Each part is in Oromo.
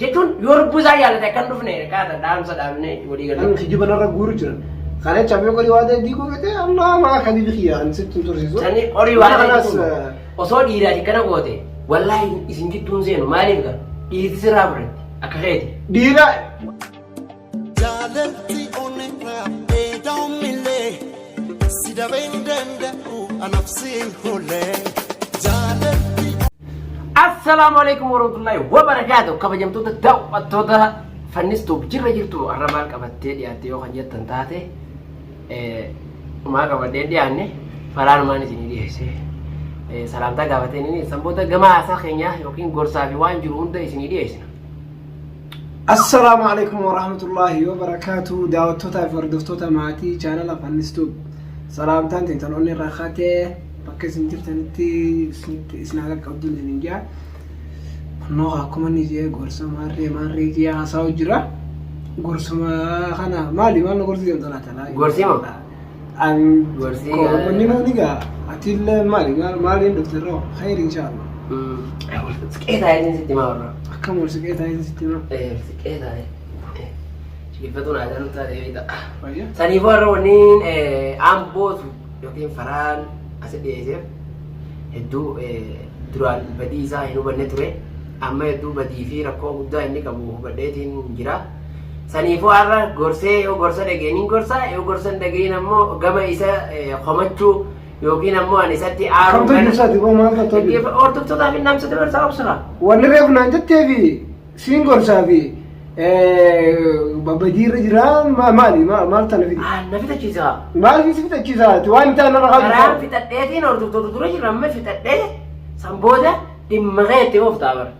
jechuun yoo lubbuu isaa jaalate akka hin dhufne kaata dhaamsa dhaabnee walii Kan galatti. kijiba narra guuru jiran. Kana jecha mee qorii waa ta'e diiguu fete ammaa maa kan ibi kiyya kan sitti hin tursiisu. Sani qorii waan Mana ta'eef kanas, eh, osoo dhiiraati kana goote wallaahi isin gidduun seenu maaliif gaa dhiirti sirraa fudhatti akka keeti. Dhiira Jaalalti onneerraa eedaumillee si dabee hin danda'u anaaf si hin hoollee. Jaalalti Assalaamu alaikum warahmatullahi wabarakaatu kabajamtoota daawwattoota fannistuuf jirra jirtu har'a maal qabattee dhiyaatte yoo kan jettan taate eh, maa qabadhee dhiyaanne falaanumaan isinii dhiyeesse Eh, salaamtaa gaafateen inni sanboota gama haasaa keenyaa yookiin gorsaa fi waan jiru hunda isinii dhiyeessina Assalaamu alaikum warahmatullaahi wabarakaatu daawwattootaa fi hordoftoota maatii chaanala fannistuub salaamtaan teetan onni irraa kaatee bakka isin jirtanitti isinitti isin haa qaqqabdu isin hin jaa kunoo akkuma inni jee gorsa maarree maarree jee haasa'u jira gorsuma kana maali maal na gorsi jedhamtu laata laa Gorsima? Inni nuun egaa atiillee maali maaliin dhufte irraa hayri inshaallah. Siqee taa'ee sitti maa warra. Akkam wal siqee taa'ee sitti maa. Siqee taa'ee. Shigiffatuun aadaa nu taate beekta. Fayyaa. Saniif warra wanniin ambootu yookiin faraan asi dhiyeesseef hedduu duraan badii isaa hin hubanne ture. Amma hedduu badii fi rakkoo guddaa inni qabu hubadheetiin jira. Saniifuu har'a gorsee yoo gorsa dhaga'e nin gorsa yoo gorsa hin dhaga'in ammoo gama isa eh, komachuu yookiin ammoo ani isatti aaruu Kamtu kana- ibsaati boo maal qabdu? Dhaggeeffa- Hordoftootaafi namsa dabarsaa obsira. Wanni reef naan jettee fi siin gorsaa fi babajii irra jira ma- maali ma- maal tana fide? Ah, Na fixachiisa. Maal fi si fixachiisa ati waan itti aanarra Karaan qabdu? fixadheetiin hordoftoota dura jira amma fixadhee san booda dhimma kee itti ooftaa bara.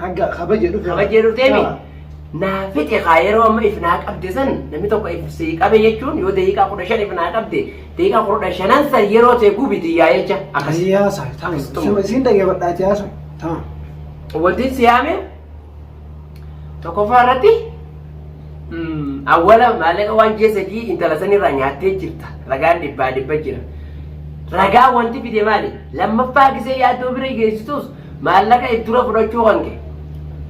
Ragga kabaje dhufe. kabajee dhufteemi Ah. naa fixe kaa yeroo amma if naa qabde san namni tokko if sii qabe jechuun yoo daqiiqaa kudha shan if naa qabde daqiiqaa kudha shanan san yeroo ta'e gubiti yaa jecha akkas Akkasii haasa. Tamam. Akkasii xumura. Sima siin dhaggeeffadhaati haasa. Tamam. wanti si yaame tokkoffaa irratti mm, awwala maallaqa waan ji'a sadii intala sanirraa nyaattee jirta ragaan dhibbaa dhibba jira ragaa wanti fide maali lammaffaa gisee yaaddoo bira geessitus Maallaqa it dura fudhachuu kan kee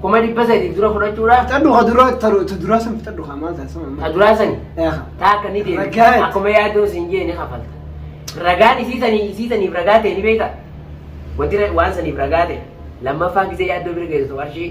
kuma dhibba sadi it dura fudhachuudha. Fixadhu ka duraa taru ta duraa san fixadhu ka maal taasisa amma. Ta duraa sani. Eeha. Ta akka ni deebi. Ragaa. Akkuma yaaddoon sin jee ni kafalta. Ragaan isii sanii isii saniif ragaa ta'e ni beekta. Wanti ra- waan saniif ragaa ta'e lammaffaa gisee yaaddoo bira geessu qarshii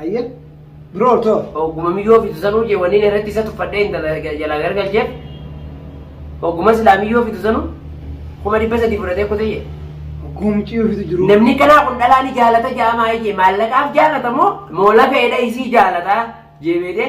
Ayye. Biroo too. Ogguma miyyoo fitu sanuu jee wanni inni irratti isa tuffadhee intala jalaa gargalcheef. Ogguma silaa miyyoo fitu sanuu kuma dhibba sadii fudhatee kutee jee. Guumcii ofiitu jiru. Namni kanaa kun dhalaa ni jaalata jaamaa jee maallaqaaf jaalata moo moo lafeedha isii jaalata jeebeedee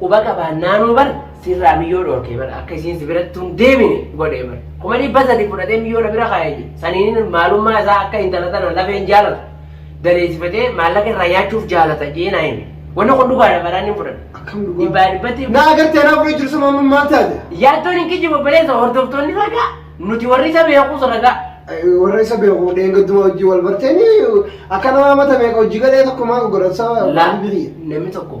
Quba qabaannaanuu bar sirraa miyyoo dhoorkee bar akka isiin si biratti hin deemine godhee bar. Kuma dhibba sadi fudhatee miyyoo na bira kaa'ee jira. Saniin maalummaa isaa akka intala tana lafeen jaalatu. Daleessifatee maallaqa irraa nyaachuuf jaalata jee naa hime. Wanni kun dhugaadha baraan hin fudhatu. Akkam dhugaa? Dhibbaa dhibbatti Na agartee naa fudhee jirsa maamma maal taate? yaaddoon hin kijjibu obboleessa hordoftoonni ragaa nuti warri isa beekuus ragaa. Warra isa beeku dheengadduma hojii wal barteeni akka nama mata meeqa hojii galee tokko maa godhatsa Laa, waan birii. namni tokko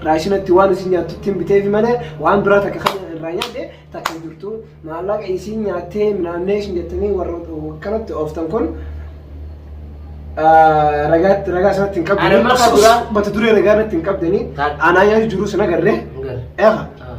irraa isinatti waan isin nyaattuttiin biteefi malee waan biraa takka kan irraa nyaadhe takka hin jirtu maallaqa isiin nyaattee minaamnee isin jettanii warra akkanatti ooftan kun ah, ragaatti ragaa sanatti hin qabdanii Anamma ka duraa- mata duree ragaa irratti hin qabdanii Taat- aanaa nyaatu jiruu sana agarree Agarre. eefa Ah.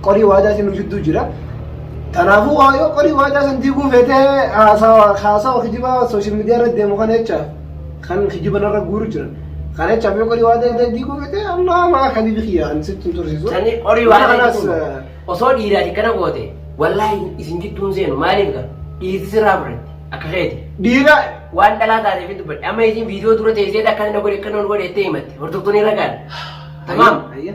Qorii waadaa isin nu jidduu jira. Kanaafuu waa yoo qorii waadaa san diiguu feetee haasawa haasawa kijibaa sooshaal miidiyaa irra deemu kana jecha kan kijiba narra guuru jiran. Kana jechaaf yoo qorii waadaa irra diiguu feetee amma maa kan bibi kiyya kan sitti hin tursiisu. Sanii qorii Mana waadaa kanas, jechuun osoo dhiiraati kana goote wallaahi isin jidduun seenu maaliif gara dhiirti sirraa fudhatti akka keeti. Dhiira Waan dhalaa taateef hin dubbadhe amma isin viidiyoo dura teessee akka inni godhe akka inni godhe itti himatte hordoftoonni ragaan. Tamaam. Ayya.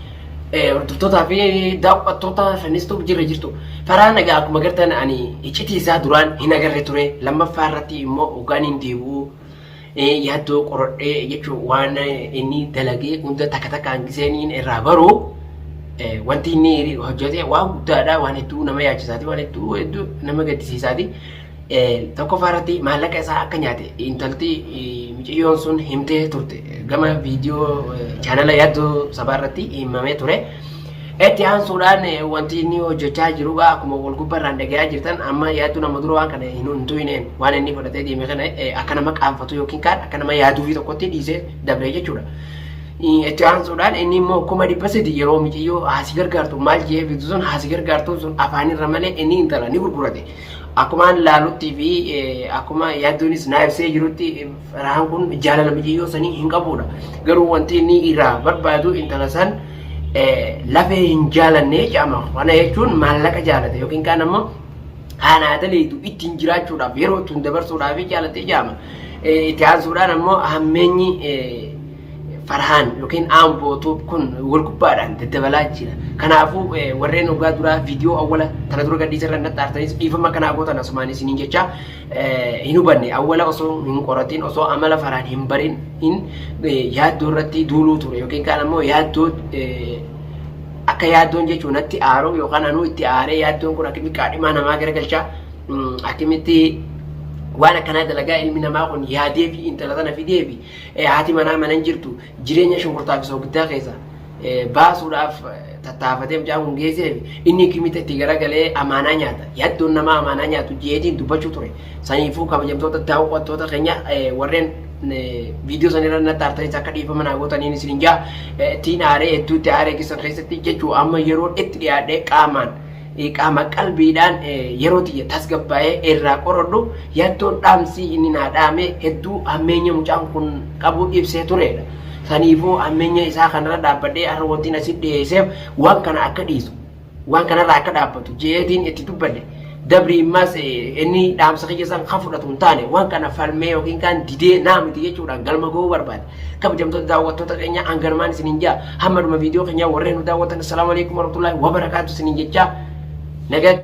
Hordoftootaa fi daawwattoota Fennistuuf jirra jirtu. Karaa nagaa akkuma gartan ani iccitii isaa duraan hin agarre ture. Lammaffaa irratti immoo hoggaan hin deebi'u yaaddoo qoradhee jechuun waan inni dalagee hunda takka takkaan giseen irraa baru wanti inni hojjete waan guddaadha waan hedduu nama yaachisaati waan hedduu hedduu nama gaddisiisaati. Tokkoffaa irratti maallaqa isaa akka nyaate intalti miciyyoon sun himtee turte gama viidiyoo chaanala yaaddoo sabaa irratti himamee ture. Itti aansuudhaan wanti inni hojjechaa jiru gaa akkuma wal gubbarraan dhagayaa jirtan amma yaadduun amma dura waan kana hin huntuine waan inni fudhatee deeme kana akka nama qaanfatu yookiin kaan akka nama yaaduu fi tokkotti dhiisee dabree jechuudha. Itti aansuudhaan inni immoo kuma dhibba sadi yeroo miciyyoo haasi gargaartu maal jee bitu sun haasi gargaartuun sun afaanirra malee inni intala ni gurgurate. Akkumaan laaluttii fi akkuma yaadduunis naa ibsee jirutti Farhaan kun jaalala mucayyoo sanii hin qabuudha. Garuu wanti inni irraa barbaadu intala san lafee hin jaalanne jedhama. Kana jechuun maallaqa jaalate yookiin kaan ammoo haanaa daleetu ittiin jiraachuudhaaf yeroo ittiin dabarsuudhaaf jaalatee jedhama. Itti aansuudhaan ammoo hammeenyi Farhaan yookiin Aamboo Tuub kun wal gubbaadhaan daddabalaa jira. Kanaafuu warreen ogaa duraa viidiyoo awwala tana dura gadhiisa irra natti aartanis dhiifama kanaa gootan asumaan isiniin jecha hin hubanne awwala osoo hin qoratiin osoo amala faraan hin barin hin yaaddoo irratti duuluu ture yookiin kaan ammoo yaaddoo akka yaaddoon jechuun natti aaruu yookaan anuu itti aaree yaaddoon kun akkamitti qaadhimaa namaa garagalchaa akkamitti waan akkanaa dalagaa ilmi namaa kun yaadee fi intala sana fidee fi Haati manaa mana hin jirtu jireenya shunkurtaa fi soogiddaa keessa baasuudhaaf tattaafatee mucaan kun geessee inni kimita itti garagalee amaanaa nyaata. Yaddoon namaa amaanaa nyaatu jeetiin dubbachuu ture. Saniifuu kabajamtoota daawwattoota keenya warreen viidiyoo san irra natti aartanis akka dhiifama naa gootaniin isin hin jaa ittiin aaree hedduutti aaree keessan keessatti jechuu amma yeroon itti dhiyaadhee qaamaan Qaama qalbiidhaan yeroo tiyya tasgabbaa'ee irraa qoradhu yattoon dhaamsi inni naa dhaame hedduu hammeenya mucaan kun qabu ibsee tureedha. Saniifuu hammeenya isaa kanarra dhaabbadhee har'a wantiin asitti dhiheesseef waan kana akka dhiisu, waan kanarraa akka dhaabbatu je'eetiin itti dubbadhe. Dabri immaas inni dhaamsa kiyya san ka fudhatu hin taane waan kana falmee yookiin kaan didee naa miti jechuudhaan galma gahuu barbaade. kabajamtoota daawwattoota keenya hanganumaan isiniin jaa hamma dhuma viidiyoo keenyaa warreen nu daawwatan assalaamu alaikum warahmatullaahi wabarakaatu isiniin jechaa nagaa